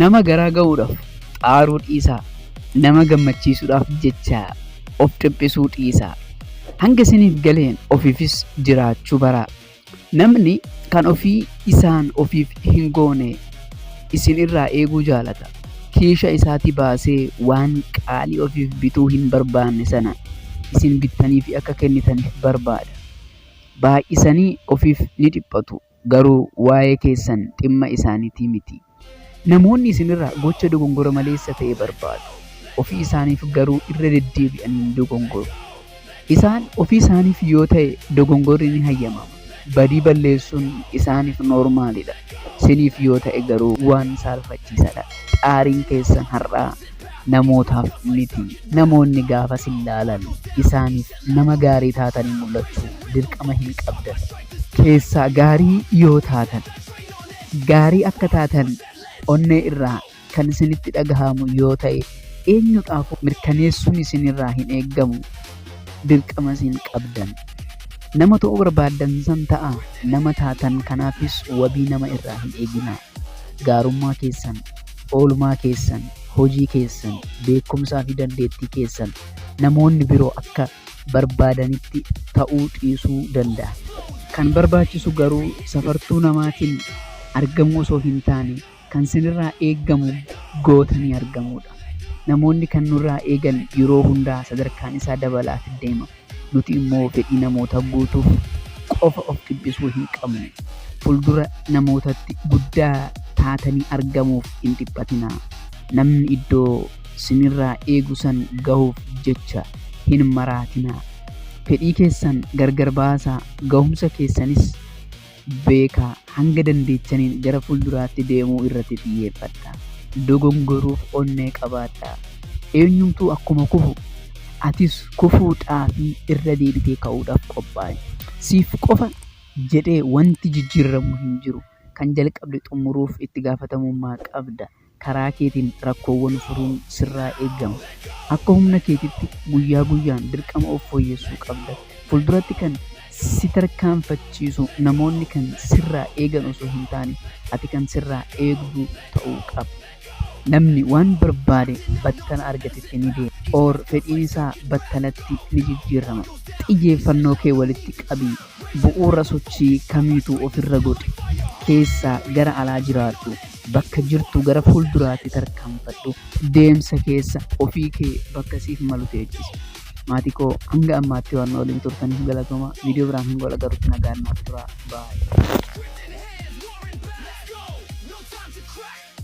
Nama garaa ga'uudhaaf xaaruu dhiisaa, nama gammachiisuudhaaf jecha of dhiphisuu dhiisaa. Hanga isiniif galeen ofiifis jiraachuu baraa. Namni kan ofii isaan ofiif hin goone isin irraa eeguu jaalata. Kiisha isaatii baasee waan qaalii ofiif bituu hin barbaanne sana isin bittaniifi akka kennitaniif barbaada. Baay'isanii ofiif ni dhiphatu. garuu waa'ee keessan dhimma isaaniitii miti. Namoonni isin irraa gocha dogongora maleessa ta'e barbaadu, ofii isaaniif garuu irra deddeebi'anii ni dogongoru. Isaan ofii isaaniif yoo ta'e dogongorri ni hayyamama. Badii balleessuun isaaniif noormaalidha. Isiniif yoo ta'e garuu waan saalfachiisaadha. Xaariin keessan har'aa namootaaf miti. Namoonni gaafa sin laalan isaaniif nama gaarii taatanii mul'achuu dirqama hin qabdan. Keessaa gaarii yoo taatan, gaarii akka taatan onnee irraa kan isinitti dhagahamu yoo ta'e eenyudhaafuu mirkaneessuun isinirraa hin eegamu. Dirqamas hin qabdan. Nama ta'uu barbaaddan san ta'aa, nama taatan kanaafis wabii nama irraa hin eeginaa. Gaarummaa keessan oolmaa keessan, hojii keessan, beekumsaa fi dandeettii keessan namoonni biroo akka barbaadanitti ta'uu dhiisuu danda'a. Kan barbaachisu garuu safartuu namaatiin argamuu osoo hin taane kan sinirraa eegamu gootanii argamuudha. Namoonni kan nurraa eegan yeroo hundaa sadarkaan isaa dabalaafii deema. Nuti immoo fedhii namootaa guutuuf qofa of dhiphisuu hin qabnu. Fuldura namootatti guddaa taatanii argamuuf hin dhiphatinaa. Namni iddoo sinirraa eegu san gahuuf jecha hin maraatinaa. Fedhii keessan gargar baasaa, gahumsa keessanis beekaa, hanga dandeettaniin gara fuulduraatti deemuu irratti xiyyeeffadhaa. Dogongoruuf onnee qabaadhaa. Eenyumtuu akkuma kufu atis kufuudhaa fi irra deebitee ka'uudhaaf qophaa'i. Siif qofa jedhee wanti jijjiirramu hin jiru. Kan jalqabde xumuruuf itti gaafatamummaa qabda. karaa keetiin rakkoowwan furuun sirraa eegama. Akka humna keetitti guyyaa guyyaan dirqama of fooyyessuu qabda. Fulduratti kan si tarkaanfachiisu namoonni kan sirraa eegan osoo hin taane ati kan sirraa eegdu ta'uu qaba. Namni waan barbaade battala argatetti ni deema. Or fedhiin isaa battalatti ni jijjiirrama. Xiyyeeffannoo kee walitti qabi. Bu'uura sochii kamiituu ofirra godhi. Keessaa gara alaa jiraadhu. Bakka jirtu gara fuulduraatti tarkaanfadhu. Deemsa keessa ofii kee bakka siif malu teechisi. Maatii koo hanga ammaatti waan nu waliin turtaniif galatooma. Viidiyoo biraan hanga wal agarrutti nagaan naaf turaa. Baay'ee.